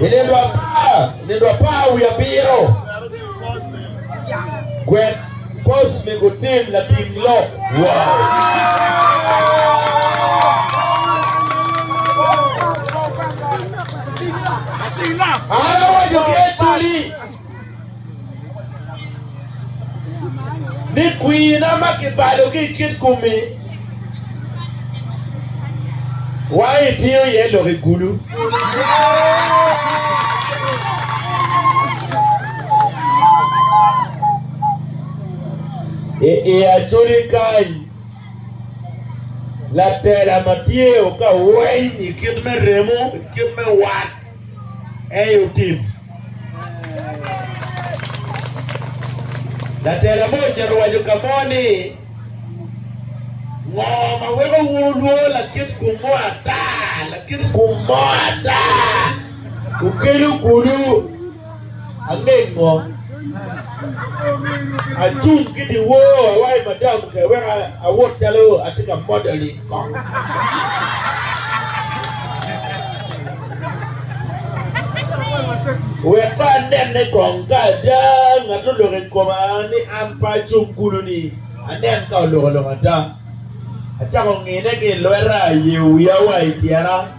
I nino apar wiye abiro, gwel post me gutim lating lok woko. ni kwina ma kibalogi i kit kom-mi wa i tiyo iye lok i kulu. I i acoli kany, latela ma tye okaweny i kit me remo, i kit me wat, eyo tim. Latela mo ocito owaco ka mo ni, Ngo ma weko wunu lwongo lakit kum mo ata? Lakit kum mo ata okelo kulu. Anego acung ki dyewor awayo madam ke wek awot calo atye ka modeling kong. Wek pe anenne kong ka ada ngat oloko i koma ni an pe acung kulu-ni, anen ka oloko lok ada. Acako ngine ki i lweta, ayeyo wiya wa i tyena.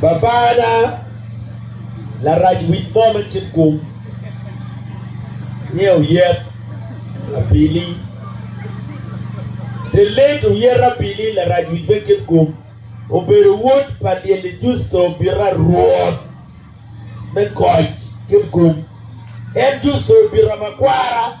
Babana larac wic mo me cik kum nge oyet abili. The late Oyet Abili, larac wic me cik kum, obedo wod pa Lyelli Justo Obita rwot me koc cik kum. En Justo Obita makwara.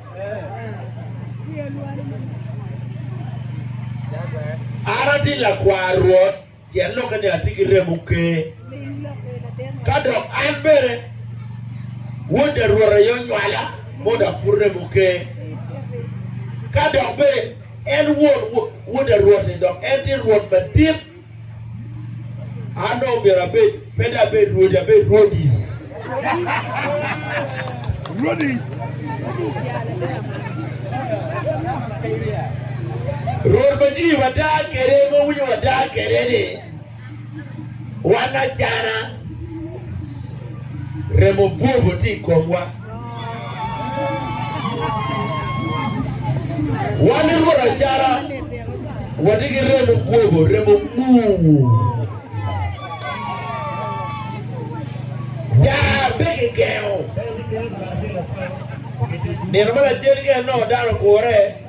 An atye lakwar Rwot, pien lokke ni atye ki remo ker, ka dok an bene wod da Rwot aye onywala, modo apur remo ker. Ka dok bene en won wod da Rwot-ti, dok en tye Rwot madit. An dong omyero abed, pe dong abed Rwodi, abed Rwodis. Rwodis. Rwod ma jwi wada kede, ma winyo wada kede ni, wan acana remo bwobo ti i komwa. Wan i Rwot acara watye ki remo gwobo, remo ur. Daa pe kigengo. Nino ma lacen kene nongo dano ogure.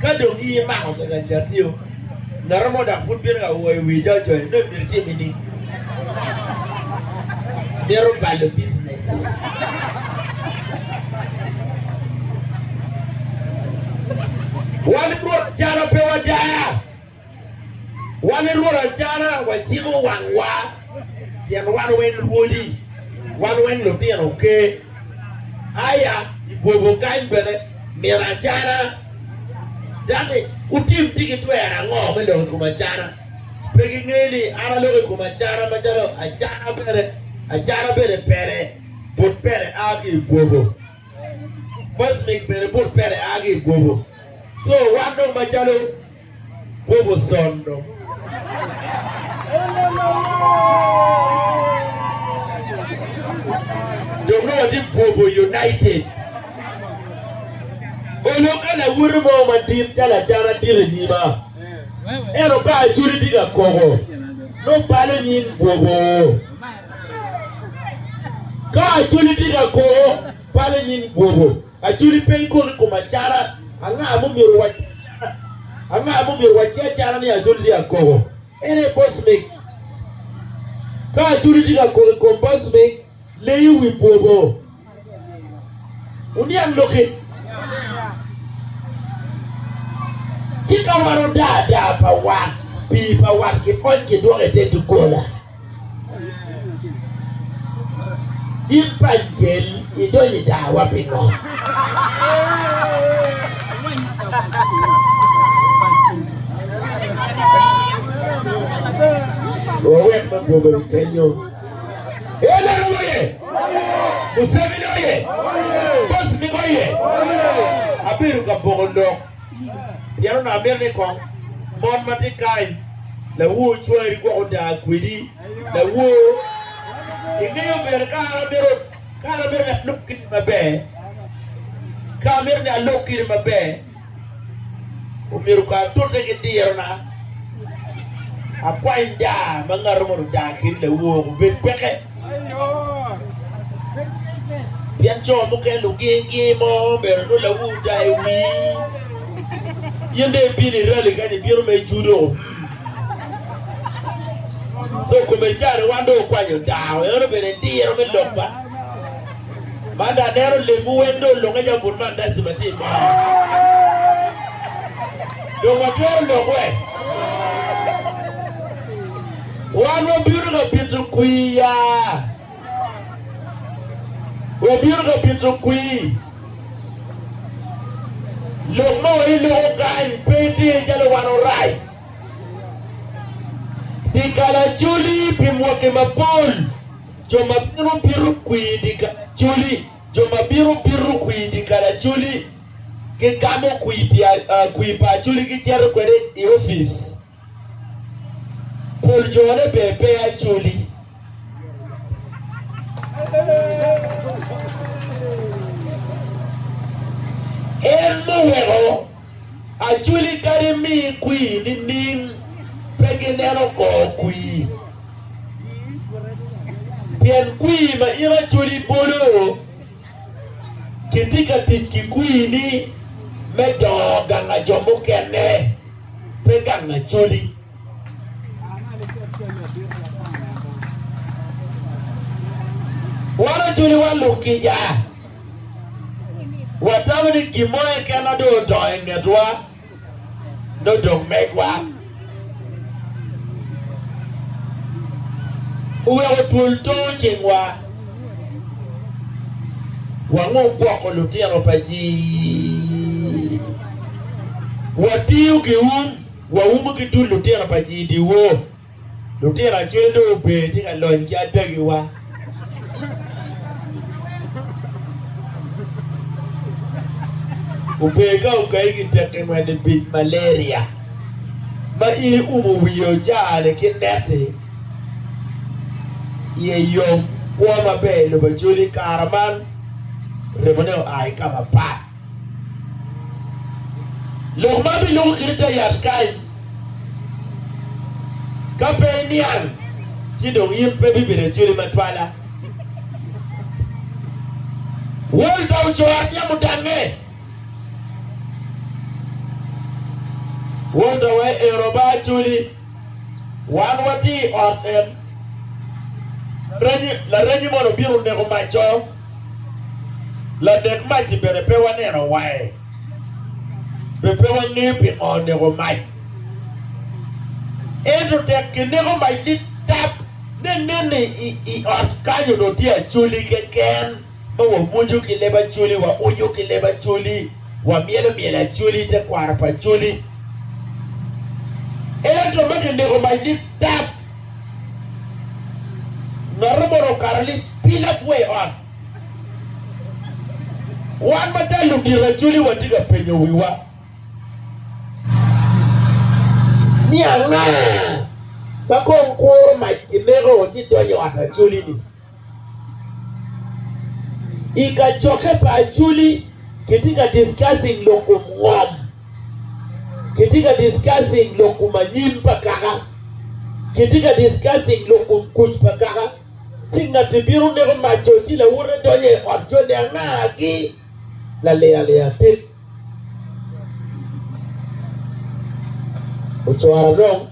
Ka dong giye imako kaka catio, ngatu mo dok pud bino ka wo i wi coco, nongo imito itime ni? Mito balo business. Wan Rwot calo pe wadaa. Wan i Rwot Acara waciko wangwa, pien wan wen rwodi, wan wen lutino ker. Aya i bwobo kany bene, mito acara. Dok ni, Wutim ti ki twer ango me lok i kom acara? Pe gingeyo ni an aloko i kom acara macalo acara bene, acara bene pere, but pere a ki i bwobo. Mwesmik bene but pere a ki i bwobo. Co wan dong macalo. Kwogo sondo. Dong nongo watye kwogo united. Onongo ka lawoti mo madit calo acan adit i nyima, ento ka acoli tye ka koko, nongo balo nying kwogo. Ka acoli tye ka koko, balo nying kwogo. Aculi peny kulu i kom acara, Anga ma omyero wac ki acara? Anga ma omyero wac ki acara ni aculi tye ka koko? En aye bocmik. Ka aculi tye ka koko i kom bocmik, leyo wi bwobo. Wuniang lok eni. Ci ka warodaa daa pa wat, pii pa wat kikony kidwoko i te doggola. In pany gel idonyo i dawa pingo? Wawek ma gwogo i kenyo. Elero oye! Museveni oye! Kosmik oye! Abedo ka boko lok. Pien onongo amito ni kong mon ma tye kany, lawor cwari gwok oda kwedi. Lawor, ingeyo bene ka an amito, ka an amito ni alok kiti maber, ka amito ni alok kiti maber, omyero kong atute ki dirona, akwany daa ma ngato mono oda kedi lawor obed peke. Pien co mukene lugingi mo omyero inongo lawu odaa i wii. In dong ibino i rali kany ibino ma ijudo. So kome cani wan dong okwanyo dawa eno dong bene diro me lok ba. Man dong aneno lemwu weng dong olunge calo bur mandaci ma tye i mo. Dong watwero lok we? Wan wabino ka bito kwir ya? Wabino ka bito kwir. Lok ma wai loko kany pe tye calo wan orac dye kalacoli pi mwaki mapol. Jo ma bino bito kwir dye kalacoli, jo ma bino bito kwir dye kalacoli gigamo kwir pa Acholi gicito kwede i opic. Pol jone ber pe ajoli. En muweko ajoli kadi mi kwir nining pe gineno kor kwir. Pien kwir ma in ajoli bolo, kitye ka tic ki kwir-ni me dongo ganga jo mukene. pe gang lacodi. Wan ocoliwa luk kica, watamo ni gin mo keken ma dong odongo i ngetwa nongo dong megwa. Oweko twol too cingwa. Wango gwoko lutino pa ji. Watiyo ki um, waumo ki dul lutino pa ji i dyewor. Lutino acwele dong ober tye ka lony ki adagiwa. Ober ka okayi ki pekki mwene bic, malaria, ma in iumo wiye ocaa-ni ki neti. iye yom, kwo maber i lobo Acoli i kare man remone oa ki ka mapat. Lok ma biluko kit i te yat kany, Ka pe iniang, ci dong in pe bibedo Acoli matwala. Wol pa ocor nyamo dangnge. Wol pa wa ero ba Acoli. Wan watye i ot en. Laraji mono obino neko mac-co? Lanek mac-ci bene pe waneno wange, be pe wangeyo pingo oneko mac. Ento tek kineko mac ni tap, ne neni i ot kany onongo tye acoli keken. ma wawoco ki leb Acholi, waoco ki leb Acholi, wamyelo myel Acholi, tekwaro pa Acholi. Ento ma kineko mac ni tap, ngato moni okato ni pi lakwe ot. Wan macalo ludito Acholi watye ka penyo wiwa ni anga ma kong kuro mac kineko ci donyo i ot Acholi-ni? I kacokke pa Acholi kitye ka discussing lok kom ngom. Kitye ka discussing lok kom anyim pa kaka. Kitye ka discussing lok kom kuc pa kaka. Ci ngatti bino neko maco ci lawote donyo i ot jone angagi? Lalilalia tit. Ocoro dong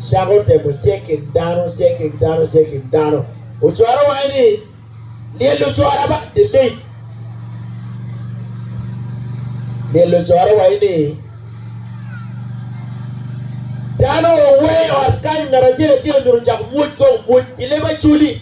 cako temo cekin dano, cekin dano, cekin dano. Ocoro wange ni, lyel ocora ba, delay. Lyel ocoro wange ni, dano oweyo ot kany ngat acel acel onyuto cako mwoc kong mwoc ki leb acoli.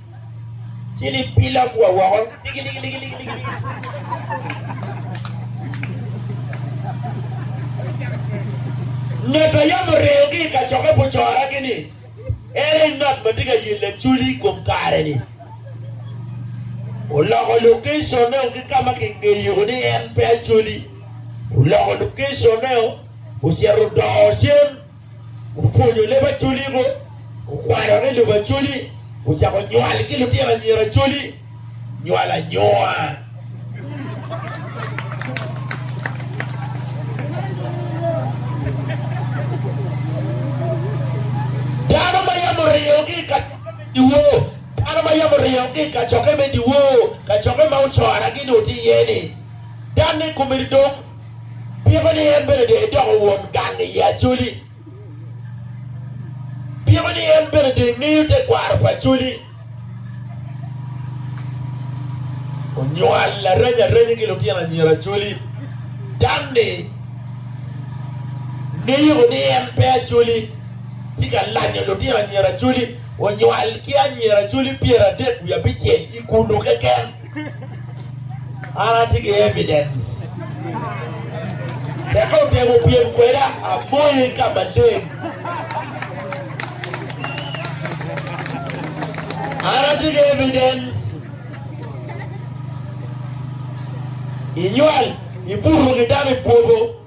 Ci libila gua woko. Ngat a yam oreyo ki i kacokke pu cora ki ni, Ere i ngat ma tye ka yel lacoli i kom kare ni? Oloko location-ne o ki ka ma ki ngeyo ni en pe acoli, oloko location-ne o, ocito odoo cen. Opwonyo leb Acholi ngo, okwano ki lobo Acholi, ocako nywal ki lutino anyira Acholi, nywal anyua. Dano ma yam oriyogi i kacokke me diwo, dano ma yam oriyogi i kacokke me diwo, kacokke ma ocora-gi ni woti iye-ni, danne kome dong. Piko ni en bene dong edoko won gang i Acholi? Piko ni en bene dong engeyo tekwaro pa Acholi? Onywal areny arenya ki lutino anyira Acholi. Dam-mi ngeyoko ni en pe Acholi, tye ka lanyo lutino anyira Acholi. Onywal ki anyira Acholi pyeradek wiye abicel i kunu keken. An atye ki evidence. Tek ka otemo pyem kweda, amoye ka maleng. An atye ki evidence. Inywal, ibuto ki dano ibwogo.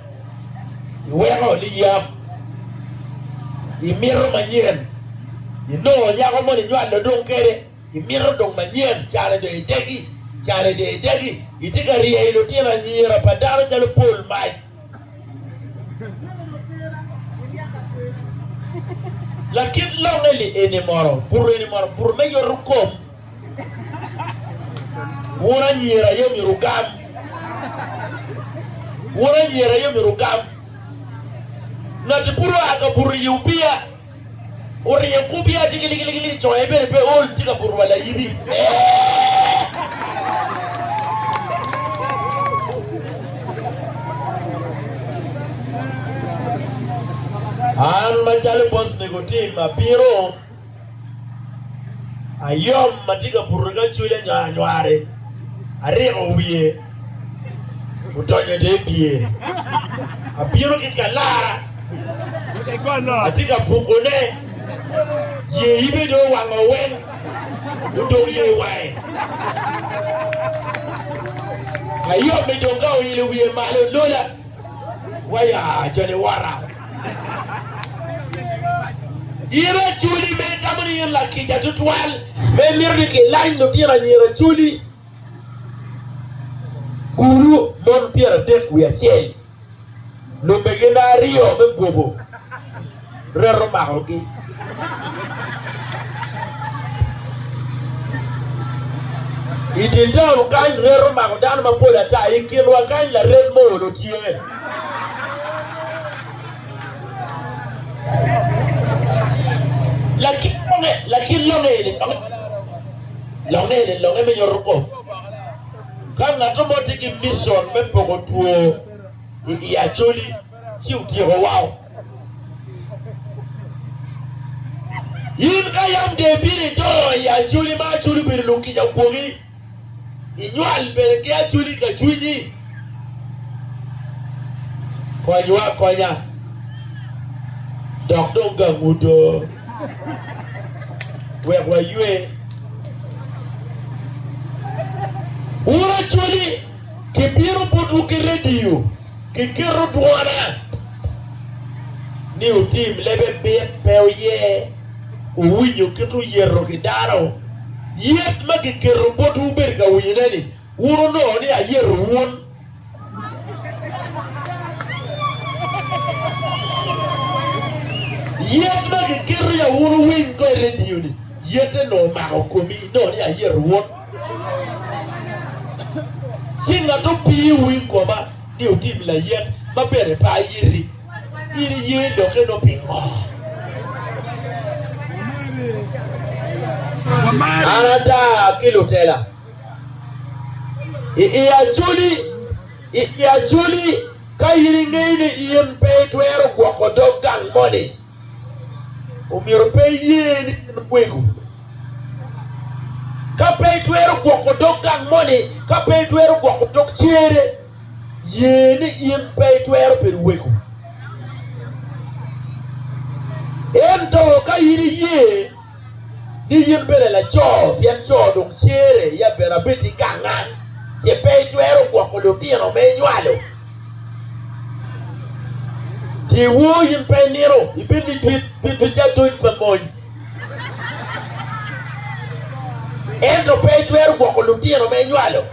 iweko liyab, imito manyen, inongo nyako moni inywalo dong kede, imito dong manyen, cane dong idegi, cane dong idegi, itye ka rye i lutino anyira pa dano calo pol mac. Lakit longe-ni eni mono, buto eni mono, buto me yoto kom. Wun anyira aye omyero wugam. Wun anyira aye omyero wugam. Ngati pud oa ka buto i opia, oryeng ku opia tye ki ligiligi i conge bene pe ol tye ka buto wa layibi. An macalo Boss Nicotine abino Ayom ma tye ka buto ki acweli anywar-anywari ariko wiye odonyo i dye pyeri. Abino ki kalara atye ka bukone, ye yibe dong owango weng, odong ye i wange. Ayom-mi dong ka oilo wiye malo olola. Waya cal i wora. In aculi ma itamo ni in lakica tutwal ma imito ni kilany lutino anyira aculi kulu mon pyeradek wiye acel, lubbe gin aryo me bwobo. reto makogi. I dye taun kany, reto omako dano mapol ata. I kinwa kany, laret mo olo tye. Lakin longe, lakin longe eni, longe eni longe me yoto kom. Ka ngat mo tye ki micon me poko two i Acholi, ci otyeko wao. In ka yam dye piri idongo i aculi ma aculi obedo lukica ogwoki, inywal bene ki aculi ka cwinyi, konywa akonya dok dong gang odo wek waywe. Wun aculi kibino botwu ki rediyo. Ki kito dwona ni otim lebe bit pe oye owinyo kit oyeto ki dano. Yet ma kiketo bot wubedo ka winyone ni wun onongo ni ayeto wun. Yet ma kiketo ya wun owiny ko i radio ni yete nongo omako komi nongo ni ayeto wun. Ci ngat opiyo wi goba ni otim layet ma bene pe ayiti, in iye lokke nongo pingo? An ata ki lutela i i acoli, i i acoli, ka in ingeyo ni in pe itwero gwoko dog gang moni. Omyero pe iye ni en wego. Ka pe itwero gwoko dog gang moni, ka pe itwero gwoko dog cere, ye ni in pe itwero bedo wego. Ento ka in iye, ni in bene laco, pien co dong cere ya bene abed ki gangan, ce pe itwero gwoko lutino ma inywalo. Tye woo in pe inino, ibed ni dit bit ducu adony pa mony, ento pe itwero gwoko lutino ma inywalo.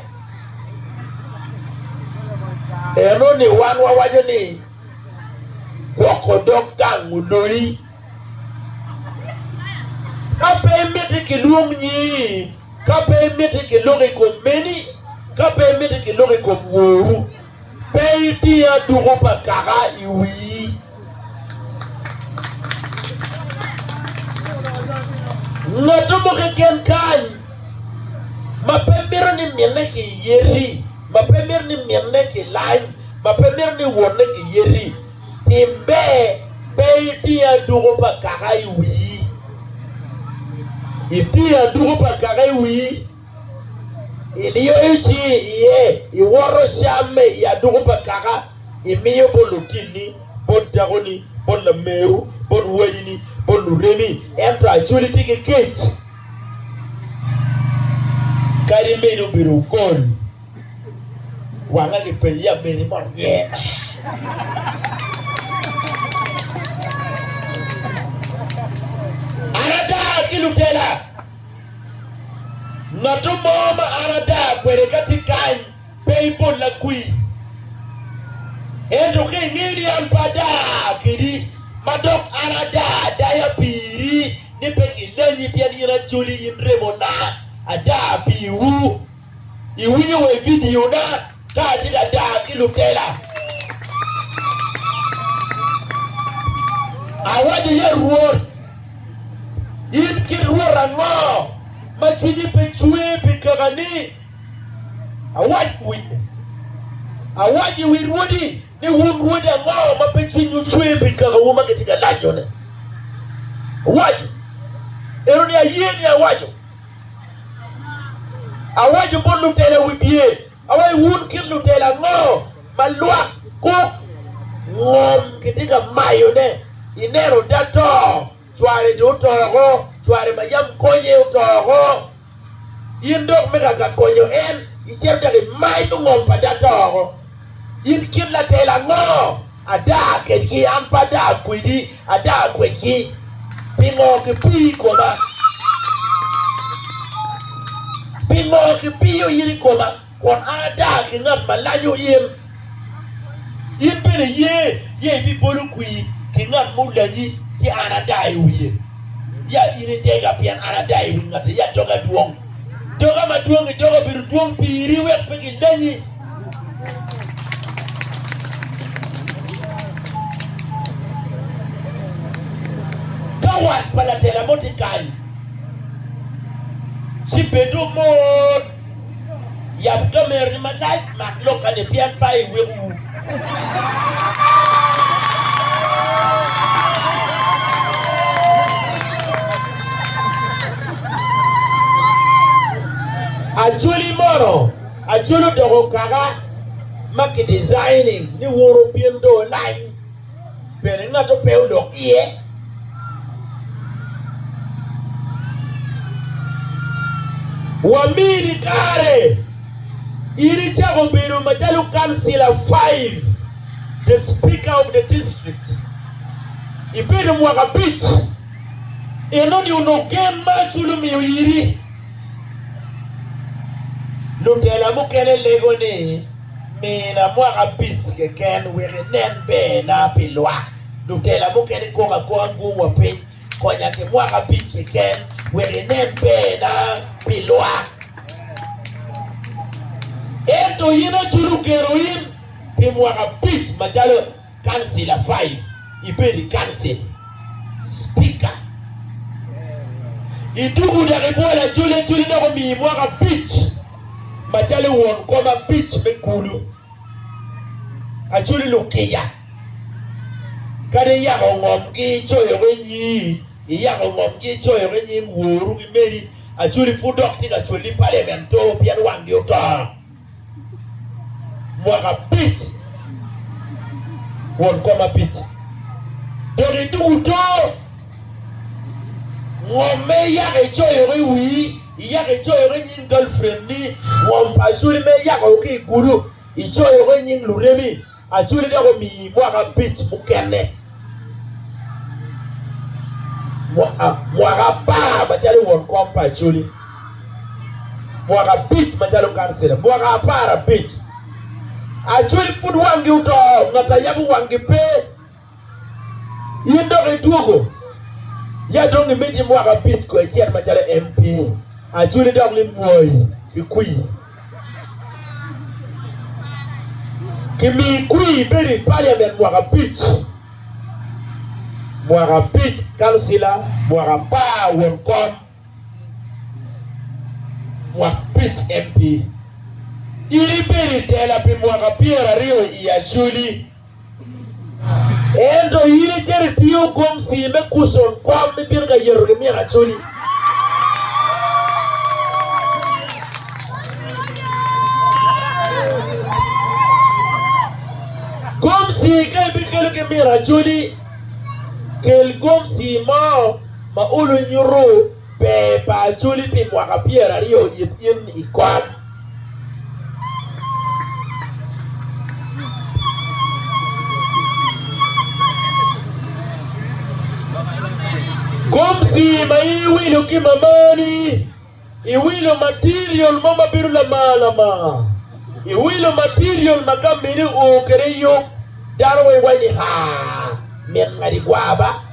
Enoni wan wawaco ni gwoko dog gang oloyi. Ka pe imiti ki lwong nyingi, ka pe imiti ki lok i kom meni, ka pe imiti ki lok i kom woru, pe idi aduku pa kaka i wii. Ngatto mo keken kany ma pe mito ni minne ki yeti, ma pe mito ni minne ki lany, ma pe mito ni wonne ki yeti, Tim ber, pe iting aduku pa kaka i wii. Itingo aduku pa kaka i wii, iliyoyo cingi iye, iwoto camme i aduku pa kaka, imiyo bot lutinni, bot dakoni, bot lameru, bot wadini, bot luremi, ento acwali tye ki kec, kadi meno obedo okol. Wanga gi pe ya meri mo nye. An ada ki lutela. Ngatu mo ma an ada kwede ka tye kany pe i bolla kwi. Ento ka ingeyo ni an pe ada kedi ma dok an ada adaya piri ni pe kilenyi pien in acoli in remona ada piwu. Iwinyo wa i vidio na ka atye ka daa ki lutela. Awaco ya Rwot, in kit Rwot ango ma cwinyi pe cwe pi kaka ni? Awac i wi rwodi. ni wun rwodi ango ma pe cwinywu cwer pi kakawu ma kitye ka lanyone? Owaco eno ni, Aye ni awaco, awaco bot lutela wibye, awaco wun kit lutela ango ma lwak kuk ngom kitye ka mayone, ineno, te to. Cware dong oto woko, cware ma yam konye oto woko. In dok me ka ka konyo en, icito dok imanyo ngom pa data woko. In kit latel ango? Ada kedgi, an pe ada kwedi, ada kwedgi. Pingo kipiyo i koma? Pingo kipiyo in i koma? Kun a ada ki ngat ma lajo in, in bene iye ye ibibolo kwir ki ngat mulanyi, ci an ada i wiye. Ya in itega, pien an ada i wi ngatti, ya doga dwong. Doga ma dwongi doga obedo dwong pi iri wek pe gilanyi. Ka wat pa latela mo tye kany, ci bed omor. Yab kamerani malac, mak lokane pien pe iweko ur. Acholi mono, Acholi odoko kaka ma ki designing ni woro pien dong olany. bene ngato pe odok iye. Wamini kare in icako bedo macalo kancila five, the speaker of the district. Ibedo mwaka abic, inoni onongo gen ma acul omiyo iri. Lutela mukene lego ni. Mina mwaka abic keken wek inen berna pi lwak. Lutela mukene kok akoka guom wa piny. Konya ki mwaka abic keken wek inen berna pi lwak. Ento in aculo keno in pi mwaka abic macalo. Council a five ibed i council speaker ituku dok ibwol acoli acoli dok omiyi mwaka abic macalo won kom abic me kulu acoli lukica kadi iyako ngom ki icoyo ki nyii iyako ngom ki icoyo ki nying woru ki meni acoli pud dok tye ka cwali parliament two pien wangi oto. mwaka abic kwon kom abic, dok iduku too ngom me yaka icoyoko i wii, iyaka icoyoko i nying galfriendni, ngom pa acholi me yakao ki i gudu, icoyoko i nying luremi. Acwali dok omiyi mwaka abic mukene, mwaka apar macalo won kom pa Acwali, mwaka abic macalo kancila, mwaka apar abic. Acwali pud wangi oto, ngat a yabo wangi pe. In dok idwogo ya dong imiti mwaka abic ko icit macalo MP Acholi dok ni Mwai ki kwir kimii kwir ibedo i Parliament mwaka abic mwaka abic kancila mwaka apar won kom mwaka abic MP in ibedo i tela pi mwaka pyeraryo i Acholi Ento in icito itiyo gomsi me kucon kom ma ibino ka yeto ki min acoli. Gomsi ka ibikelo ki min acoli, kel gomsi mo ma ulu nyuto Ber pa Acholi pi mwaka pyeraryo it in i kom. Gomsi ma in iwilo ki mamani, iwilo material mo ma bedo lamar lamar. Iwilo material ma ka mini oo kede yub, dano weng waci ni haa, mit ngadi gwa ba.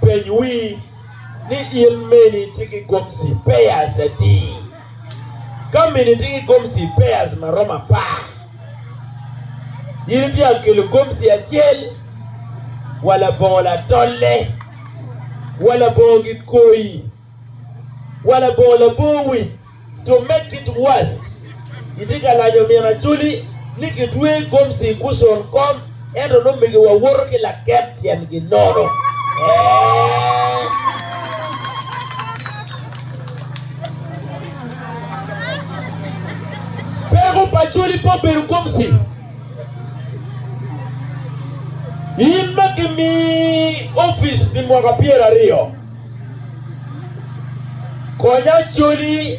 Peny wi ni, 'In meni itye ki gomci pairs adi? Ka meni itye ki gomci pairs ma romo apar, in ityeko kelo gomci acel wa labongo latolle, wa labongo gikoyi, wa labongo labor wic, To make it worse, kitye ka lanyo min Acholi ni kitweye i gomci i Gushon kom ento nongo omigowa woto ki laket tyengi nono. Peko pa Acholi pe obedo gomci, in ma kimi opic pi mwaka pyeraryo. Kony Acholi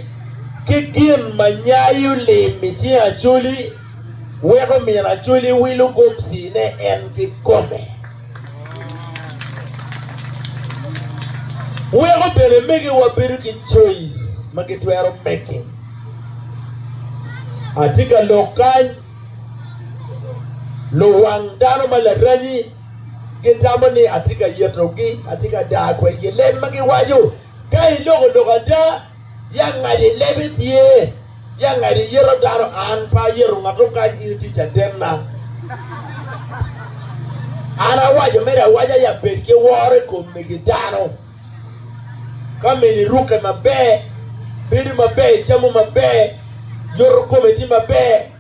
ki gin ma nyayo lim i cing Acholi weko omin Acholi wilo gomcine en kikome. Weko bene megiwa bedo ki coice ma gitwero making. Atye ka lok kany luwang dano ma laranyi gitamo ni atye ka yetogi, atye ka daa kwedgi i leb ma giwaco. Ka iloko lok ada, ya ngad i lebe tye, ya ngad iyeto dano, an pe ayeto ngat okac, in itye cadenna. An awaco mere awaca, ya bed ki woro i kom megi dano. Ka mini irukke maber, bedo maber, icamo maber, yoto kome tye maber.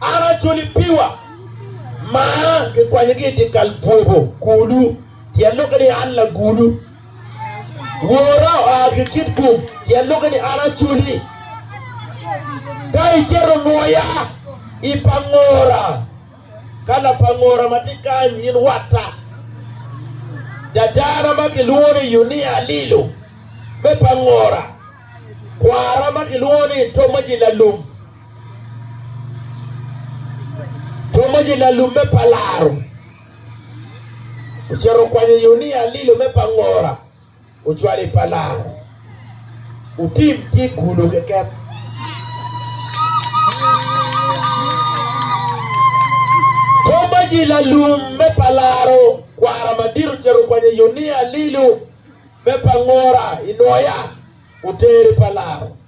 An acoli piwa ma kikwanyo ki i dyekal bwoko kulu, tyen lok ni an lagulu. Wora oa ki Kitgum, tyen lok ni an acoli. Ka icito nwoya i pangora, ka lapangora ma tye kany in watta. Dadana ma kilwongo ni Yunia Alilo me pangora, kwara ma kilwongo ni Tomaji Lalum, Kom ma ginalume pa laro ocito okwanyo yo ni alilo me pa ngora ocwalo i pa laro otim tye gulo keken. Kom ma ji lalum me pa laro kwara madit ocito okwanyo yo ni alilo me pa ngora i noya oteri pa laro.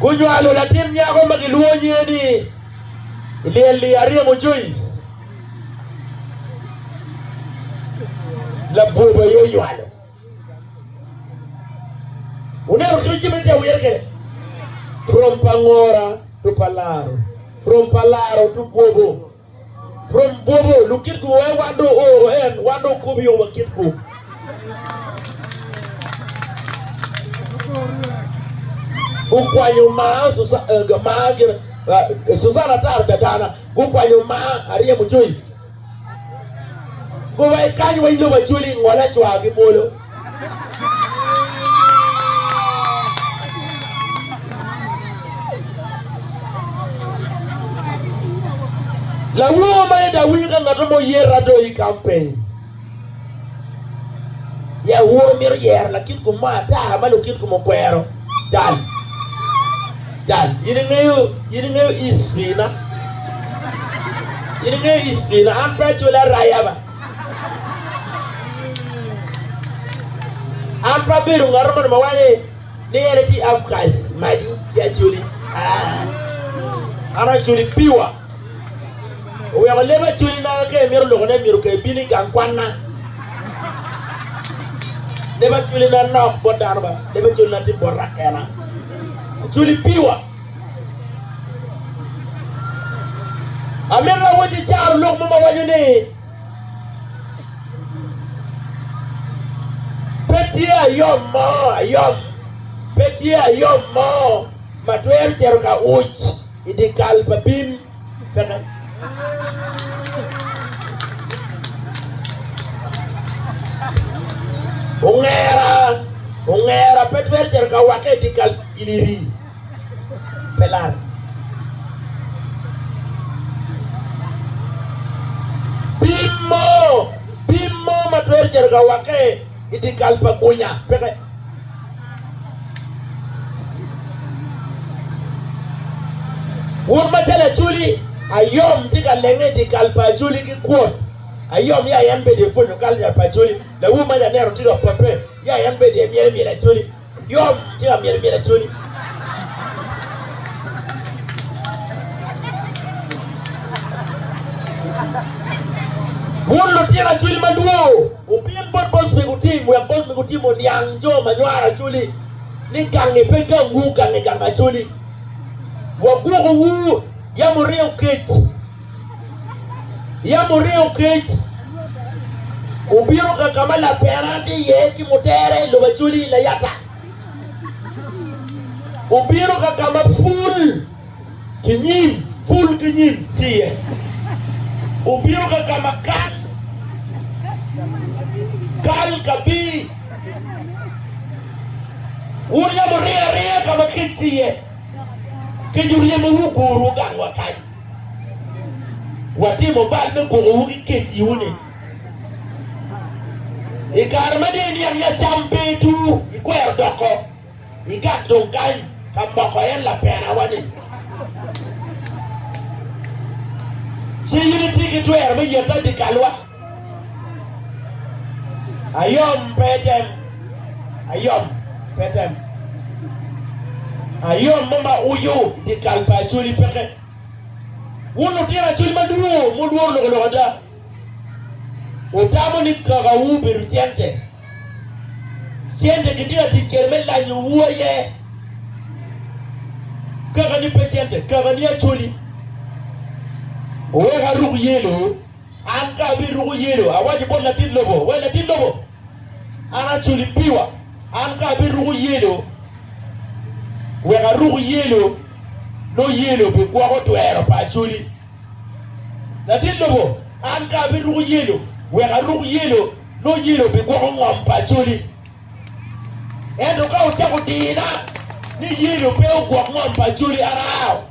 Gunywalo latin nyako ma gilwongo nyinge ni Lyelly Aryemo Joyce. Labwor aye onywalo. Wuneno kit ma jami tye wire kwede? From pa ngora to pa laro, from pa laro to bwobo. From bwobo lukit gu wee wan do oro en wan do kobi o wa kit gu. gukwanyo maa eh, maa gire eh, Susan atar dadana gukwanyo maa aryemo Joyce gowai kany wa ilobo acoli ngole cwagi mwolo Lawor ma eda winy ka ngat mo oyer ado i campaign. Ya wor mito yero lakit kom mo ata ma lukit kom okwero. Jal. Jal. Yin ingeyo, yin ingeyo history na. Yin ingeyo history na. An pe acwele araya ba. An pe abedo ngat moni ma waco ni en aye outcast magi ki Acholi. An Acholi piwa. Oweko leb Acholi na ka imito loko ne myero ka ibin i gang kwanna. Leb Acholi na nok bot dano ba. Leb Acholi na tye bot rakena. Acholi piwa. Amito awacci icaro lok mo ma waco ni pe tye ayom mo ayom pe tye ayom mo ma twero cito ka uc i dye kal pa bim. Ongera ongera pe twero cito ka wakke i dye kal iliri. Pim mo ma twero cito ka wakke i dye kal pa gunya peke. Wun macalo Acholi, ayom tye ka lenge i dye kal pa Acholi ki kwot. Ayom ya en bed i pwonyo kalca pa Acholi. Lawu mac aneno tye ka pope, ya en bed i myel i myel Acholi. Yom tye ka myel myel Acholi. Wun lutino Acholi madwongo, wupyen bot boss me gutim wek boss me gutim oniang jo ma nywaro Acholi ni gangi pe gangwu, gangi gang Acholi. Wagwokowu, yam wuryeyo kec. Yam oringo kec, obino ka ka ma laperane tye iye ki mutere i lobo acoli layata. Obino ka ka ma pul ki nyim, pul ki nyim tye iye. Obino ka ka ma kal, kal ka pii. Wun yam wuringo aringa ka ma kec tye iye, kec oryemo wu ogurowu gang wa kany. Watimo bal me gwokowu ki kec iwu-ni. I kare ma dong iniang ya cam pe itu, ikwero doko, igak dong kany ka moko en lapena-wa-ni. Ci in itye ki twero me yette adikalwa. Ayom pe etem. Ayom pe etem. Ayom mo ma ucu dyekal pa Acholi peke. Wun lutino Acholi madwor mulworo loko loko ada, wutamo ni kakawu obedo cente. Cente kitye ka tic kwede me lanyowu aye. Kakani pe cente, kakani Acholi. Owek aruk yelo. An ka abiruko yelo, awaco bot latit lobo, Wai latit lobo, an aculo i piwa. An ka abiruko yelo, wek aruk yelo, nongo yelo bigwoko twero pa acoli. Latit lobo, an ka abiruko yelo, wek aruk yelo, nongo yelo bigwoko ngom pa acoli. Ento ka wucako dina ni yelo pe ogwok ngom pa acoli, an ao.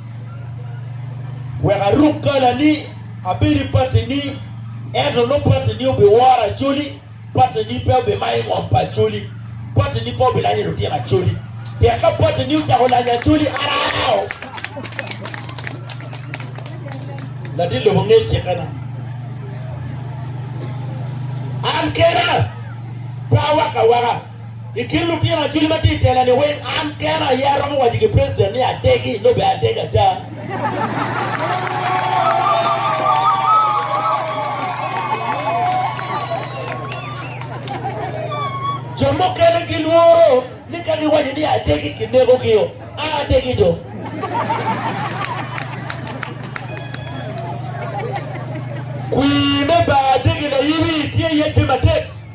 Wek aruk kalani, abedo i patini, ento nongo patini obiworo acoli, patini pe obimayo i ngom pa acoli, patini pe obilanyo lutino acoli. Pien ka patini ocako lanyo acoli, an ao. Latin lobo ngeyo cikkena. An kena pe awaka awaka. I kin lutino acwili ma tye i tela-ni weng, an kena aye aromo waco ki president ni adegi, nongo bene adegi ada. Jo mukene gilworo ni ka giwaco ni adegi, kinekogi-o. A adegi dong. Kwir me ba adegi layiwi tye iye tye matek.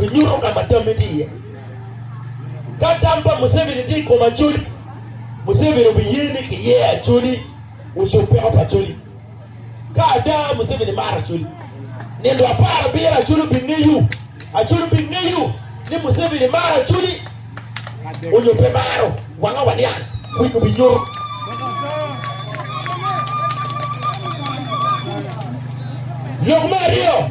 Inyuto ka ma tammi tye iye. Ka tam pa Museveni tye i kom Acholi, Museveni obiye ni kiye Acholi ocub peko pa Acholi. Ka ada Museveni maro Acholi, nino apar abiro Acholi obingeyo. Acholi obingeyo ni Museveni maro Acholi onyo pe maro. Wanga waniang, winyi obinyuto. Lok me aryo.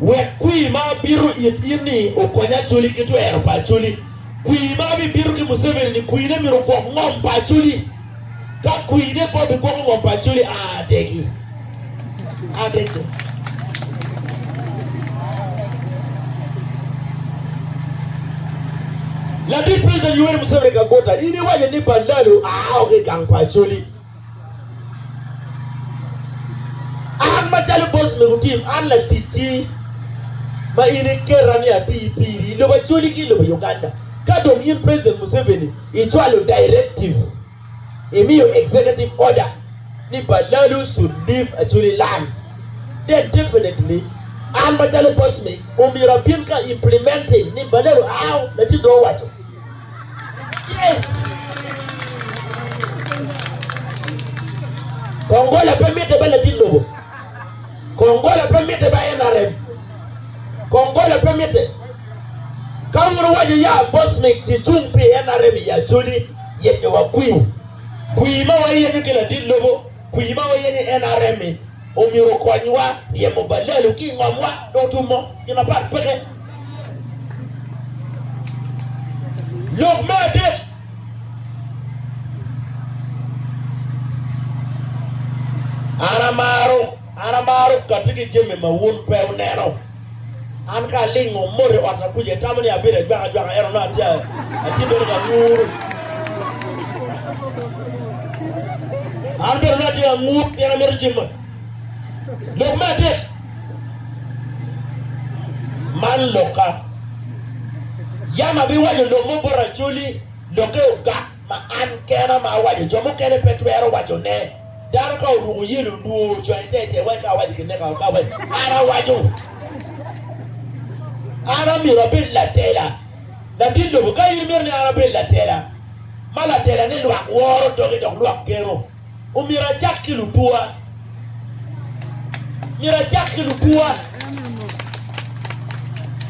Wek kwir ma abito it in-ni okony Acholi ki twero pa Acholi. Kwir ma abibito ki Museveni-ni, kwirne myero ogwok ngom pa Acholi. Ka kwirne pe obigwoko ngom pa Acholi, a adegi. A adeg dong. Latin President Yoweri Museveni ka guta, in iwaco ni Bandalo aa oko i gang pa Acholi. An macalo boc me gutim, an laticci ma in iketa ni ati piri i lobo Acholi ki i lobo Uganda. Ka dong in President Museveni icwalo directive, imiyo executive order ni Balalu should leave Acholi land, then definitely an macalo boc me omyero abin ka implementing ni Balalu out, Latin dong owaco. Kong gola pe mitte ba latin lobo. Kong gola pe mitte ba NRM. Kong gola pe mitte. Ka wun wuwaco ya Bosmik ci cung pi NRM i Acholi, yenyowa kwir. Kwir ma wayenyo ki latin lobo, kwir ma wayenyo i NRM-mi, Omyero okonywa ryemo balelo ki i ngomwa dok tumo gin mapat peke. Lok me adek, An amaro, an amaro kati ki jami ma wun pe wuneno. An ka alingo mot i ot ma kuca itamo ni abedo ajwaka ajwaka ento nongo atye atye bene ka nguru. An bene nongo atye ka ngur pien amito cim mot. Lok me adek, man lokka. Yam abiwaco lok mo bot Acholi, lokke ogak ma an kena ma awaco jo mukene pe twero wacone. Dano ka oruko yelo nwo ocoyo ite ite wek ka awaco kineka oka wek an awaco. An amyero abed latela. Latin lobo ka in imito ni an abed latela, ma latela ni lwak woro doge dok lwak geno, omyero acak ki lutwoa. Myero acak ki lutwoa.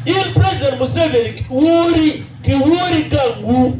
In president Museveni wori ki wori gangwu.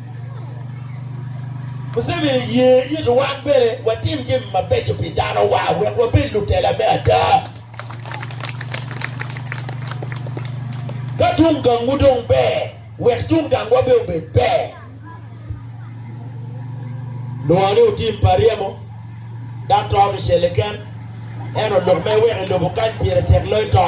Museveni oye ni wan bene watim jami mabeco pi danowa wek wabed lutela me ada. Ka tung gangwu dong ber, wek tung gangwa bene obed ber. Nongo ni otim pa ryemo. Dok to kicel keken, ento lok ma iweko i lobo kany pire tek loyo to.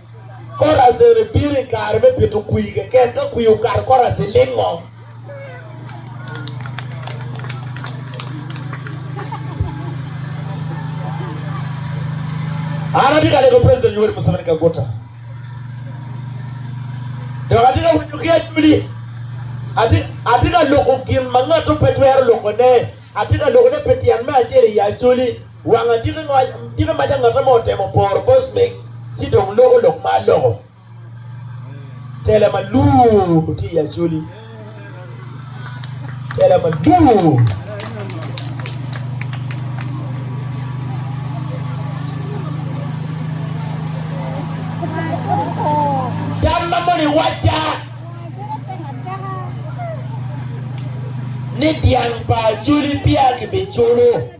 Korazene bino i kare me pito kwir keken. Ka kwir okato, Korazene lingo. An atye ka lego President Yoweri Museveni Kaguta dok atye ka winyo ki adwodi. Atye, atye ka loko gin ma ngatto pe twero lokone. Atye ka lokone pi tyen me acel i Acholi. Wanga tike maca ngat amo otemo poro bos me ci dong loko lok ma aloko tela ma luu tye i Acholi tela ma luu.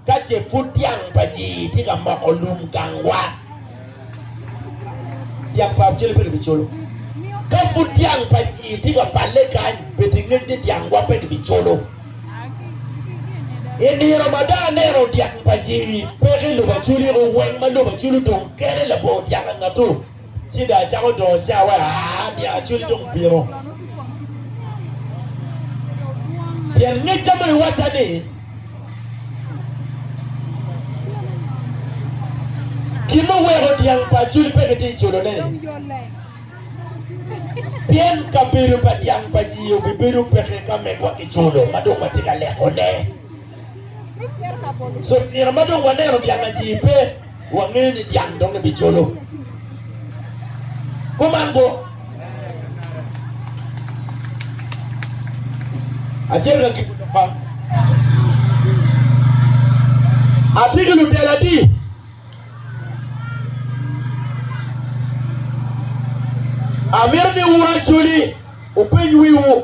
Ka ce pud dyang pa jii tye ka moko lum gangwa, dyang pa Abcele pe gibiculo. Ka pud dyang pa jii tye ka balle kany, bed ingec ni dyangwa pe gibiculo. I nino ma dong aneno dyang pa jii peke i lobo aculiko, weng ma lobo culo dong kene labongo dyang angatu. Ci dong acako dongo cawa ni acwiny dong bino, pien ngecca dong iwacca ni, Gin muweko dyang pa acwiny pe kitye culone-ni, pien kabedo pa dyang pa yii obibedo peke ka megwa kiculo ma dong watye ka lekone. So nino ma dong waneno dyang atir pe, wangeyo ni dyang dong ebicolo. Kuman go, acel ka ki pa atye ki lutela adi? Amito ni wuracoli wupeny wiwu.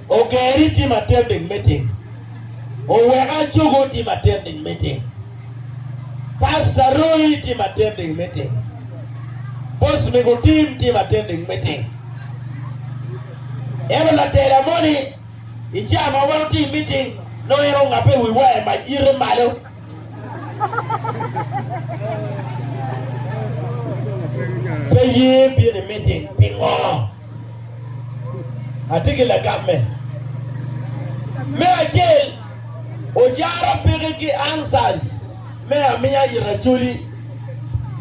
Oger i tim atending me tim. Owek Acogo tim atending me tim. Pasta Roy tim atending me tim. Boss Mego Tim tim atending me tim. Ento latela moni i cawa ma wan otye i meeting nongo en ongape i wi waya mac yite malo. Pe ye bino i meeting pingo? Atye ki lagamme. Me acel, ojara piki ki answers me amiya i racoli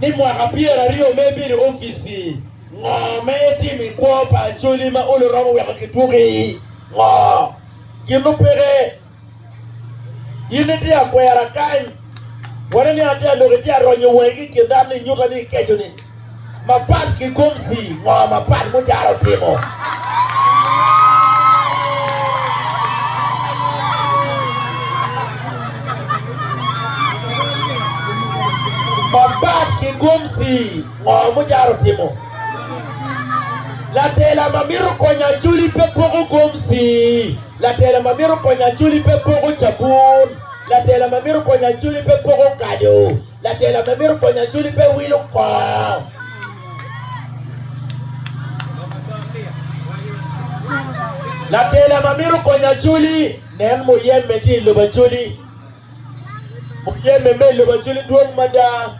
ni mwaka pyeraryo me bedo i opici, ngo me itimo i kwo pa acoli ma olo romo weko kidwoki? Ngo gin mupeke? In itye akwera kany. Wano ni atye adok itye aronyo wangi ki i kin dano ni inyuta ni ikeco ni mapat ki gomsi ngo mapat mujara otimo. Mapat ki gomsi ngo mujara otimo. Latela ma mito konyo acoli pe poko gomsi. Latela ma mito konyo Acholi pe poko cabun. Latela ma mito konyo Acholi pe poko kado. Latela ma mito konyo Acholi pe wilo kor. Latela ma mito konyo Acholi nen muyemme tye i lobo Acholi. Muyemme me i lobo Acholi dwong mada.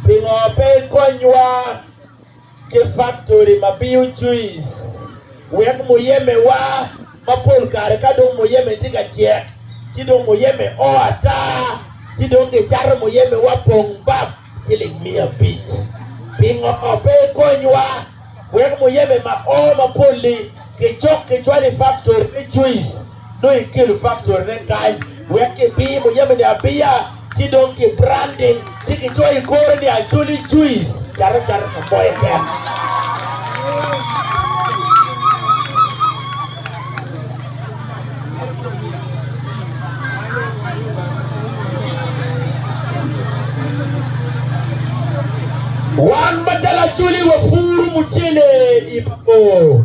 Pingo pe ikonywa? ki faktori ma biyo juic wek muyemewa ma pol kare ka dong muyeme tye ka cek ci dong muyeme o ata ci dong kicato muyemewa pong bap ciling miya abic. Pingo pe ikonywa wek muyeme ma o mapol-li kicok kicwalo i faktori me juic? Nongo ikelo faktorine kany wek kibiyo muyemeni abiya, ci dong ki branding, ci kicoyo i kore ni Acholi Juice cate cate ka mo keken. Wan macalo Acholi wapuro mucele i Bago.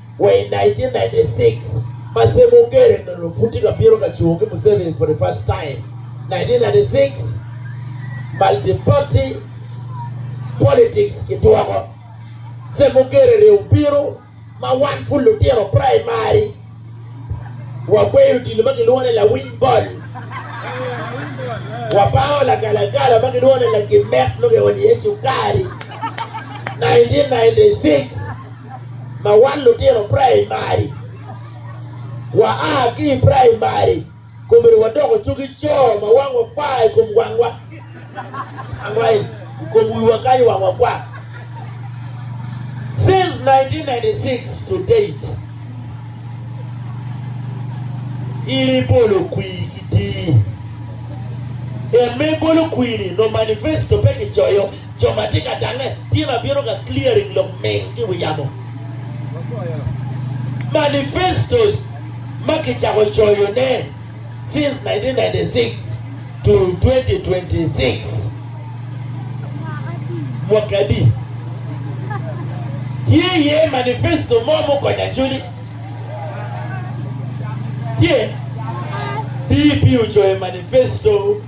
Wa i 1996, ma Sam Ogere onongo pud tye ka piro ka cungo ki Museveni for the first time, 1996, multiparty politics kidwoko. Sam Ogere rye obino ma wan pud lutino praimari wagweyo odilo ma kilwongo ni lawiny bol, wabango lagalagala ma kilwongo ni lagimet nongo kionyo iye cukari, 1996. Ma wan lutino praimari, waa ki i praimari komere wadoko cogi co ma wangwa kwa i kom wangwa, i kom wiwa kany wangwa kwa. Since nineteen ninety six to date, in ibolo kwir ki dii. En ma ibolo kwir-ni nongo manifesto pe kicoyo. Jo ma tye ka tange tin abino ka clearing lok ming ki wi yamo. Manifestos ma kicako coyo ne since 1996 to 2026 mwaki adi? Tye iye manifesto mo mukonyo Acholi? Tye? DP ocoyo manifesto.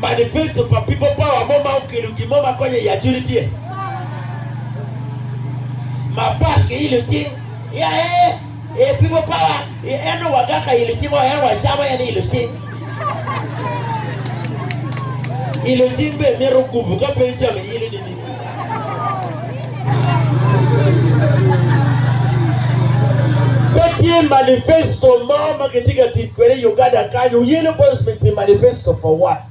Manifesto pa People Power mo ma okelo gin mo ma konyo i Acholi tye mapat ki ilo cing. I aye i People Power i eno waga ka ilo cing o eno wacamo en ilo cing. Ilo cing be mito gupu ka pe icamo ilo ni. Pe tye manifesto mo ma kitye ka tic kwede i Uganda kany, Uyelo Bosman pi Manifesto for What?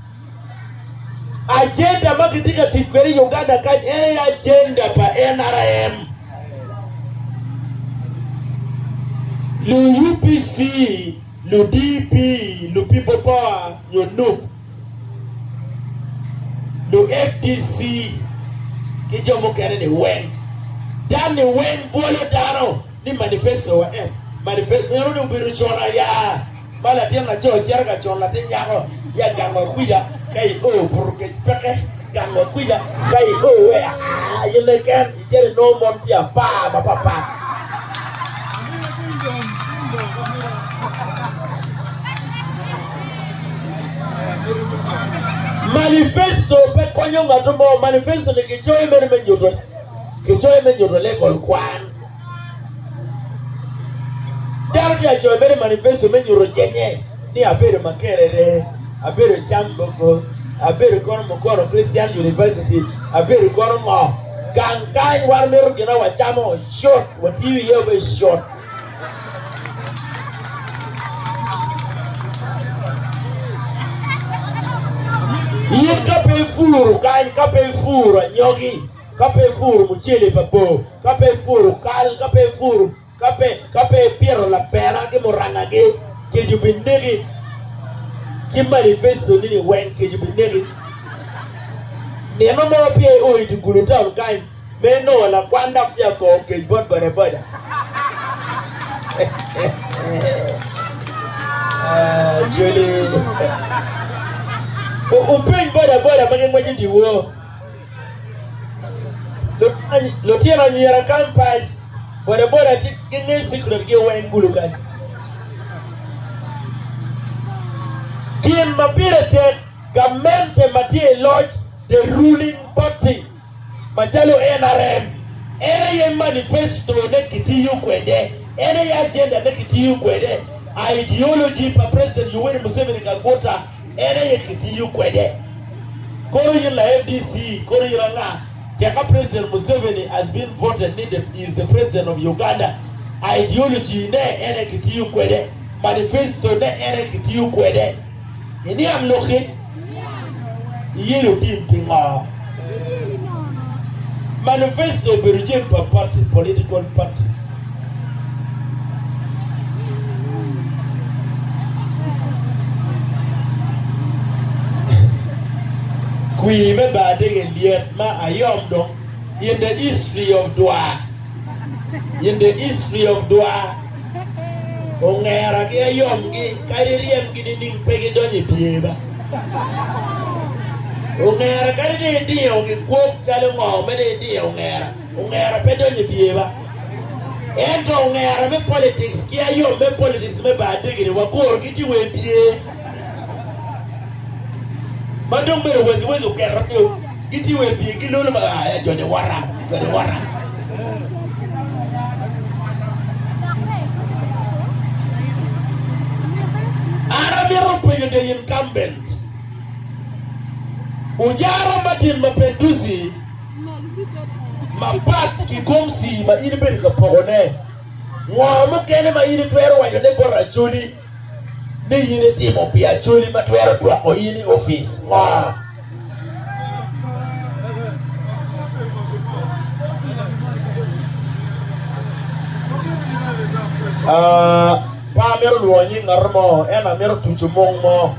Ajenda ma kitye ka tic kwede i Uganda kany en aye ajenda pa nrm, lu UPC, lu DP, lu People Power nyo nup. Lug FDC ki jo mukene ni weng tam ni weng bwolo dano ni manifesto wa en manifesto meno ni obedo con aya ma latin laco cito ka con latin nyako ya gang wa kwica ka i o buto kec peke gang wa kwica ka i o wea aa aye leken Icel inongo mon tye apar mapatpat. Manifesto pe konyo ngat mo. Manifesto ni kicoyo mere me nyuto kicoyo me nyuto level kwan. Dano tye acoyo mere manifesto me nyuto jenye ni abedo Makerere, abedo Chambogo, abedo kono Mukono Christian University, abedo kono ngo. gang kany waromito gina wacamo cut watiyo iye obe cut in ka pe ipuro kany ka pe ipuro anyogi ka pe ipuro mucele pa bor ka pe ipuro kal ka pe ipuro Ka pe ipito lapena ki murangagi, kec obineki, ki manifesto-nini weng, kec obineki. Nino mo peya io i dye gudo taun kany, me inongo lakwan dok tye ka koko kec bot bodaboda. Wupeny bodaboda ma gingweco dyewor. Lutino anyira Campus bodaboda tye gingeyo secret gi weng kulu kany. Gin ma pire tek gamente ma tye i loc the ruling party macalo nrm en aye manifesto ne kitiyo kwede, en aye agenda ne kitiyo kwede, ideology pa President Yoweri Museveni Kaguta. En aye kitiyo kwede. Kore in la FDC, kore ira nga? Teka President Museveni has been voted ni the is the President of Uganda, ideology ne en aye kitiyo kwede, manifesto ne en aye kitiyo kwede. Iniang lok-ki? Iyeyo tim pingo? Manifesto obedo cen pa pati, political party. Kwir me bar dege lyet ma ayom dong in the history of dwa in the history of dwa. Ongera ki ayom gi kadi iryem gi nining pe gi donyo i pye ba. Ongera kadi dong idingo gi kwok calo ngo me dong idingo ongera, ongera pe donyo i pye ba. Ento ongera me politics ki ayom me politics me baa degini waguro gi ti wa i pye. ma dong bedo waci waci oketo ki o gitye wai pye ki lolo ma ya jo ni wara jo ni wara an amito penyo the incumbent ujara matin ma penduzi ma pat ki gomsi ma in ibedo ka poko ne ngo mukene ma in itwero waco ne bot racodi ni in itimo pi Acholi ma twero dwoko in i opic ngo? Uh, pe amito lwongo nying ngat mo, ento amito tuco mung mo.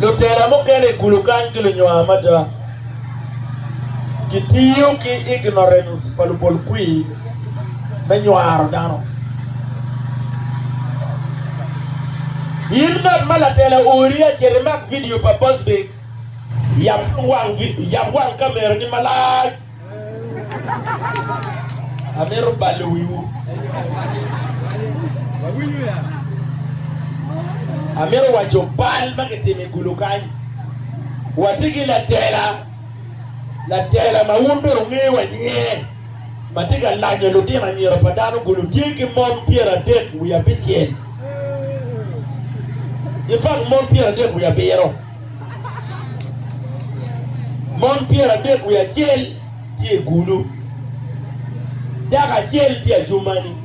Lutela mukene i kulu kany gilunywaa mada. Kitiyo ki ignorens pa lubolkwir me nywaro dano. In ngat ma latela ori acel imak vidio pa Busby, yab wang kamerani malac. Amito balo wiwu. Amito waco bal ma kitimo i kulu kany. Watye ki latela, latela ma wun bene wungeyo wa nyinge, ma tye ka lanyo lutino anyira pa dano kulu. Tye ki mon pyeradek wiye abicel ki pak mon pyeradek wiye abiro. Mon pyeradek wiye acel tye i gulu, dako acel tye Adjumani,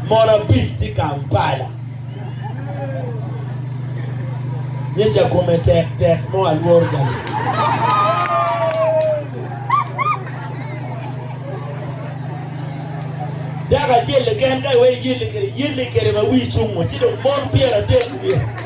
mon abic tye Kampala. Nyeca kome tek tek mo alworo jami. Dako acel keken ka iwee yelli kede yelli kede ma wii cungo ci dong mon pyeradek wiye.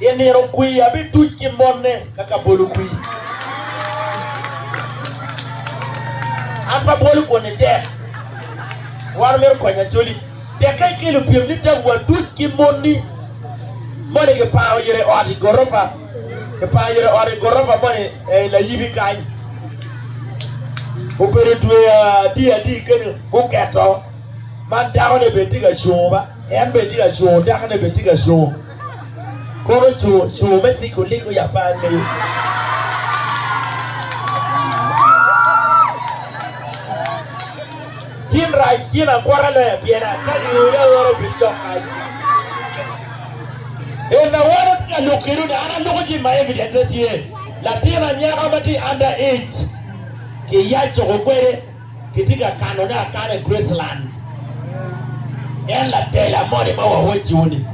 I nino kwir abituc ki mone ka ka bolo kwir. An pe abwolo kwon-ni tek. War omito konyo Acholi. Tekka ikelo pyem ni tabu atuc ki moni moni kiparo yere ot i gorofa, kiparo yere ot i gorofa moni ei layibi kany. Obedo dwe adi adi kenyo guketo man dakone bene tye ka cungo ba en bene tye ka cungo dakone bene tye ka cungo. Kono co co me ciko lik o ya pan me yo. Tin rac tin akwara loya pien a ka gi ore ore bil cok kany. En na wano ti ka luk kinu ni an a luku ci ma evidence ne tye latin anyaka ma ti under age ki ya coko kwede. Kitye ka kanone akana i Graceland. En latela moni ma wawacciwu-ni.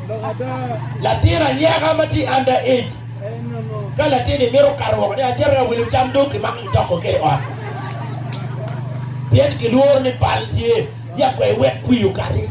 Latin anyaka ma tye under age, ka latin-ni mito kato woko ni acito ka wilo cam dong kimako kitoko kwede i ot pien kilworo ni bal tye, ya kwer iwek kwir okati.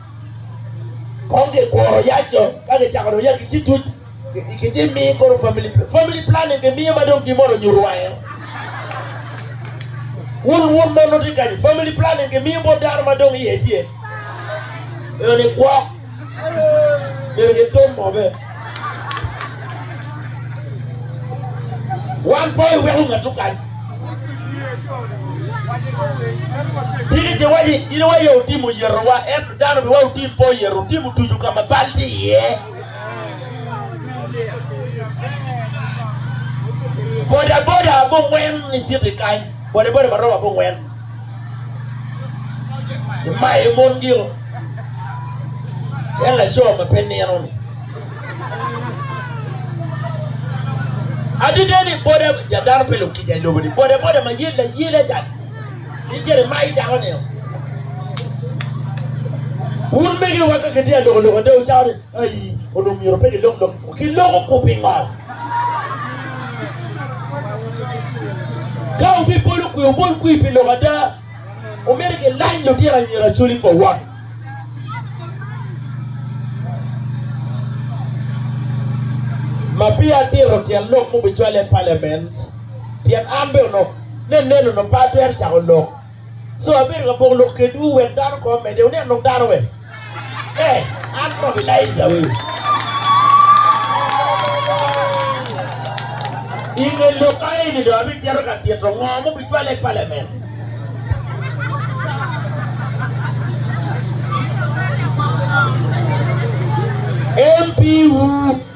Kong gikuro yac co ka gicako dong ya ki ci tuc ki ci mi koro family family planning ki miyo ma dong gin mono nyuto wange. Wun wun mon wuti kany family planning ki miyo bot dano ma dong iye tye. Eno ni gwok. Myero gitum mo be. Wan pe iweko ngat okany. Tika ce waci in aye otimo yetowa ento dano pe wa otim pe oyeto otimo tucu ka ma bal tye iye. Boda boda abongwen iciti kany. Boda boda ma romo abongwen. Kimaye mon gino. En laco ma pe nino-ni. Adada ni boda ja dano pe lukica i lobo-ni. Boda boda ma yel layela ca. Icere mayi dako nino. Wun megiwa ka kitye aloko loko ate wucako ni Ai, onongo myero pe gilok dong ki loko-gu pi ngat. Ka wubibolo kwi, wubol kwi pi lok ada. Omyero gilany lutino anyira Acholi for one. Ma peya atito tyen lok mubicwalle i Parliament, pien an bene onongo, ne neno onongo pe atwero cako lok. So abedo ka poko lok kedwu wek dano kong omedde. Wuneno dong dano wek? Ee, an kong Elaija weu. I nge lok ka eni dong abicito ka tito ngo ma obicwale i palamen. MP-wu.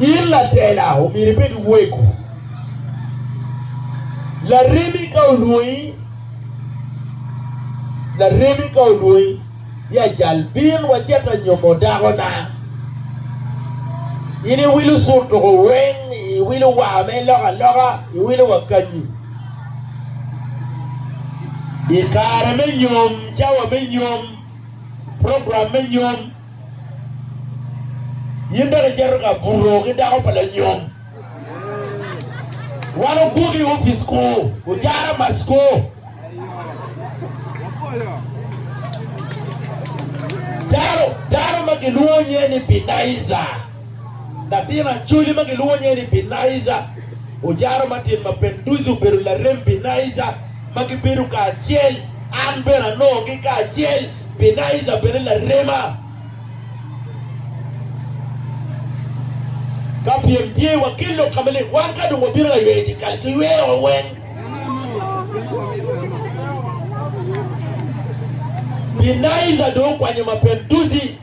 In latela omyero ibed weko laremi ka olwongi, laremi ka olwongi, ya cal, bin wacit anyomo dakona. In iwilo cur tuko weng, iwilo wa me lok aloka, iwilo wa kanyi. I kare me nyom, cawa me nyom, program me nyom, in bene icito ka buto ki dako pa lanyom. Wan ogwoki i opic ku, ojara mac ku. Dano, dano ma gilwongo nyinge ni Binaija. Latin Acholi ma gilwongo nyinge ni Binaija, ojaro matin ma Penduzi obedo larem Binaija ma gibedo kacel. An bene anongogi kacel. Binaija bene larema. Ka pyem tye, wakel lok ka malik. Wan ka dong wabino layweyo dyekal, giyweyo wa weng. Binaija dong okwanyo ma Penduzi.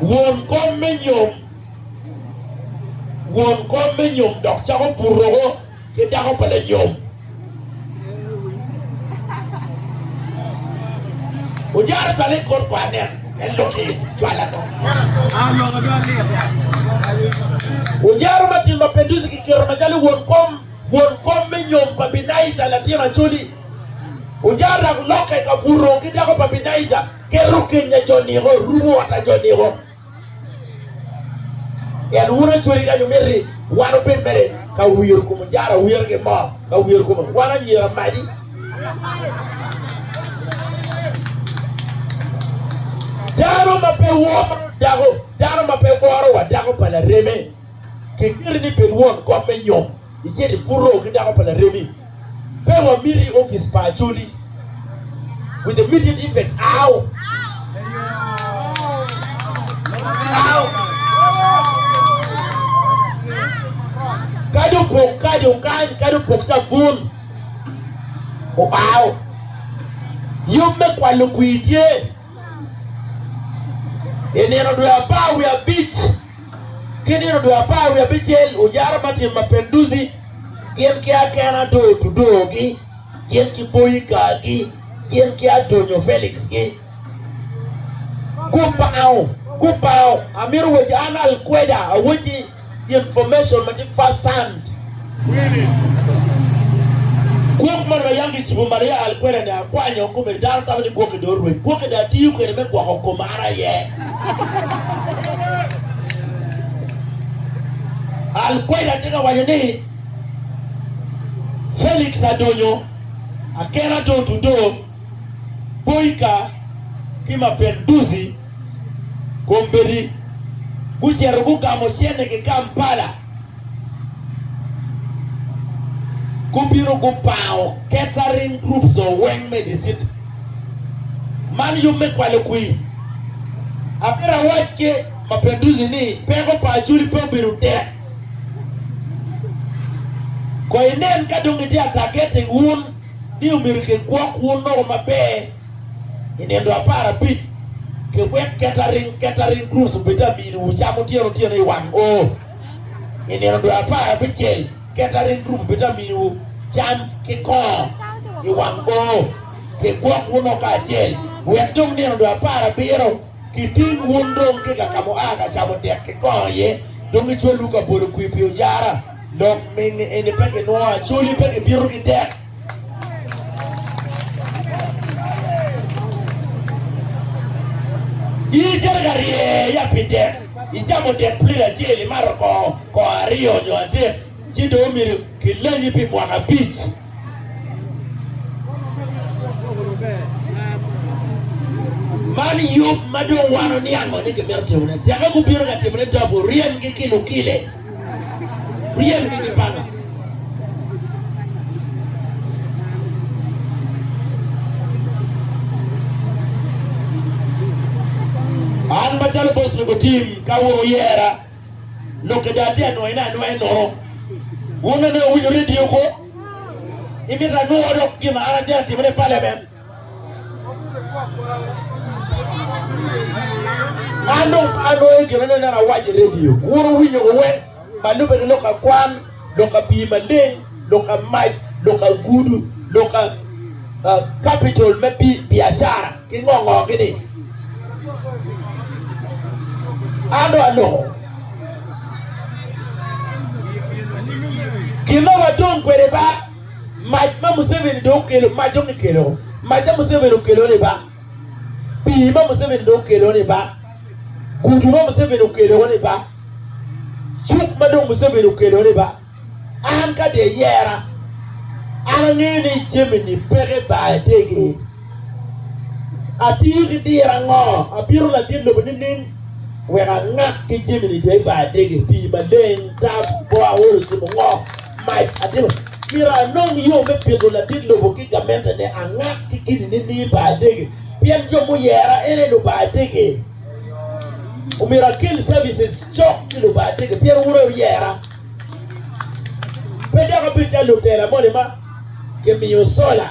Won kom me nyom Won kom me nyom dok cako puroko ki dako pa lanyom. Ojara twale i kor kwan en, en lok i cwal ango? Ojara ma tin ma Petusi kiketo macalo won kom, won kom me nyom pa Binaija latin Acoli. Ojara dok lokke ka buto ki dako pa Binaija, keto kenya jo niko, rumo ot a jo niko. Ento wun acweri kany wumito ni wan wubed mere ka wiro kom ojara, wiro ki moo, ka wiro kom wan anyira amadi. Dano ma pe woro dako, dano ma pe woro wa dako pa lareme, kiketi ni bed won kom me nyom. Icit ibuto ki dako pa laremi. Pe wamiti i opic pa Acholi with immediate effect. Ow! Ow! Kadi opok kadi okany kadi opok cabun. Ow! Yub me kwalo kwir tye. I nino dwe apar wiye abic ki nino dwe apar wiye abicel, ojara ma tyen Mapenduzi gin ki akena dong otudogi, gin ki boyikagi, gin ki adonyo Felix-gi. Gupao, gupao! Amito waci, An Al-Queda awacci. Information ma tye first hand. Gwok moni ma yam kicibo Maria Alquerra-ni akwanyo kome dano tamo ni gwokke dong orweny. Gwokke dong atiyo kwede me gwoko koma an aye. Alquerra tye ka waco ni, Felix adonyo, akena dong otudo. Boika ki Mapenduzi kombeddi gucito gugamo cente ki Kampala gubino gupango catering groups o weng me dicit man yub me kwalo kwi. Abiro awac ki Mapenduzi ni peko pa Acholi pe obedo tek. Ko inen ka dong gitye a targeting wun. ni omyero kigwok wun loko maber i nino apar abic ki wek catering, catering groups, obed ka miniwu cam otyeno otyeno i wang o. I nino dwe apar abicel, catering group obed ka miniwu cam ki kongo i wang o. Kigwok wun loko kacel wek dong nino dwe apar abiro Iting wun dong tika ka mua ka camo dek kikongo iye dong icwalwu ka bolo kwir pi ojara dok mingi eni pe kinwongo acoli pe kibito ki dek. In icito ka rye ya pi dek icamo dek plit acel imato kongo kongo aryo nyo adek ci dong omyero kilenyi pi mwaka abic. Man yub ma dong wano niang ngo ni kimito timone. Teke gubino ka timone togo, ryemgi ki lukile, ryemgi ki panga. An macalo bos me gutim ka wun wuyera. Lok ada atye anwoyone anwoya i nono. Wun nongo dong wuwinyo redio kwo? Imito anwo dok gin ma an atyer atimone i paliament? An dong pe anwoyo gin aneno ni an awaco i redio. Wun wuwinyo kwo weng ma lubbe ki lok akwan? lok ka pii maleng, lok ka mac, lok ka gudu, lok ka kapitol me biacara ki ngo ngo gini. An dong aloko. Gin ma wadong kwede ba mac ma Museveni dong okelo, mac dong kikelo, mac ma Museveni okelo ni ba. Pii ma Museveni dong okelo ni ba, gudu ma Museveni okelo ni ba, cuk ma dong Museveni okelo ni ba, an ka dong eyera, an angeyo ni jami-ni peke ba etegi. Atiyo ki diro ango? Abito ladit lobo nining wek angak ki jami-ni dong ba etegi? Pii maleng, tam, bor, awol, ocimo, ngo? Mac adek. Myero anong yo me pito ladit lobo ki gamentene angak ki kidi nining pa adege? Pien jo muyera en aye luba adege. Omyero akel services cok ki luba adege pien wun aye wuyera. Pe dok abedo calo lutela moni ma kimiyo sola.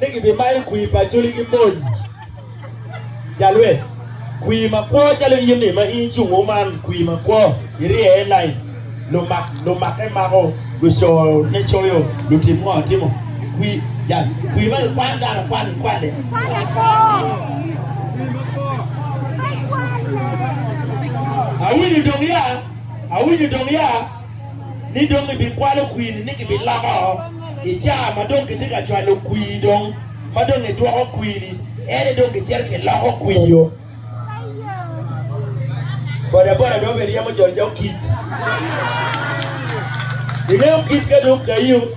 ni gibimayo kwir pa Acholi ki mony i jalweny, kwir makwo calo in yeni ma in cung o man, kwir makwo irye i lain, lumak lumakke mako, lucone coyo, lutim ngo timo, kwir ja kwir ma gikwan dano akwan gikwane. Awinyo dong ya, awinyo dong ya. ni dong ibikwalo kwiri ni kibiloko i caa ma dong kitye ka cwalo kwir dong ma dong idwoko kwiri ene dong kicito kiloko kwir-ro. Bodaboda dong obedo ryemo jol calo kic. Ingeyo kic ka dong okayo.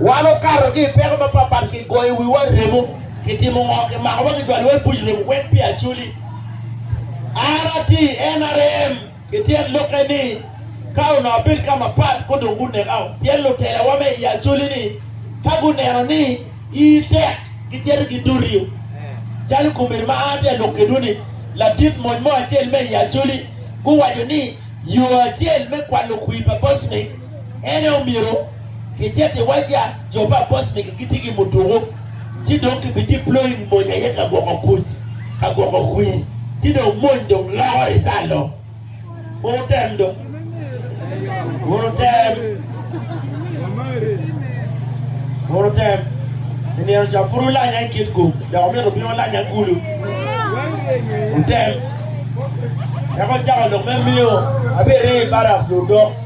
Wan okato ki i peko mapatpat, kigoyo wiwa remo, kitimo ngo, kimako wa kicwalo iwa i buc remo wek pi acoli. An atye i nrm ki tyen lokke ni ka onongo abedo ka mapat ko dong guneka o, pien lutelawa me i acoli ni ka guneno ni ii tek gicito gidoti o. Calo komedi ma an atye ka lok kedwu ni, ladit mony mo acel me i acoli guwaco ni yo acel me kwalo kwir pa Bosnic, Ene omyero kicit i wacca jo pa boss megi gitye ki muduku ci dong ki bi deploying mony aye ka gwoko kuc ka gwoko kwi ci dong mony dong loko result o. Kur wutem dong. Kur wutem. Kur wutem. I nino ca pud wulanya i kit gum dok omyero wubin wulanya kulu. Wutem. Eka wucako lok me miyo abirye i barracks ludok.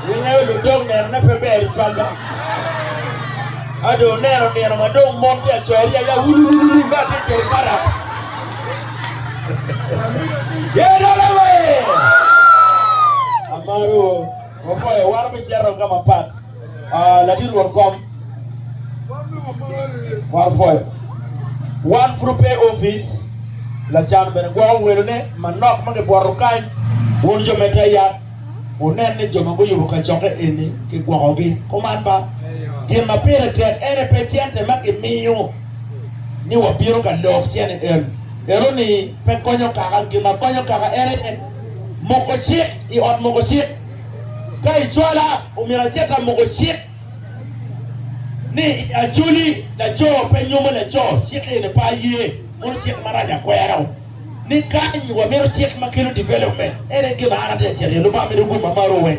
Wungeyo ludok nenone pe ber i cwal dok ado wuneno nino ma dong mon tye ka coro yaya wululululu ma tye ka cito i parak. Yerucalem ee! Amarowu, wapoyo wan obicito ka mapat. Ah, latin won kom kwaro pwoyo. Wan pud ope i opic, lacan bene gwoko welone manok ma gibwoto kany. Wun jo me te yat, wunen ni jo ma guyubo kacokke eni kigwokogi kuman ba? Gin ma pire tek ene pe cente ma gimiyo ni wabino ka lok cene en, eno-ni pe konyo kaka. Gin ma konyo kaka ene moko cik i ot moko cik. Ka i cwala, omyero acit amuku cik ni Acholi laco pe nyomo laco, cik eni pe aye, mono cik marac akwero ni kany wamito cik ma kelo development, ene gin ma an atye ka cito iye, Lubanga mito gum ma marowe.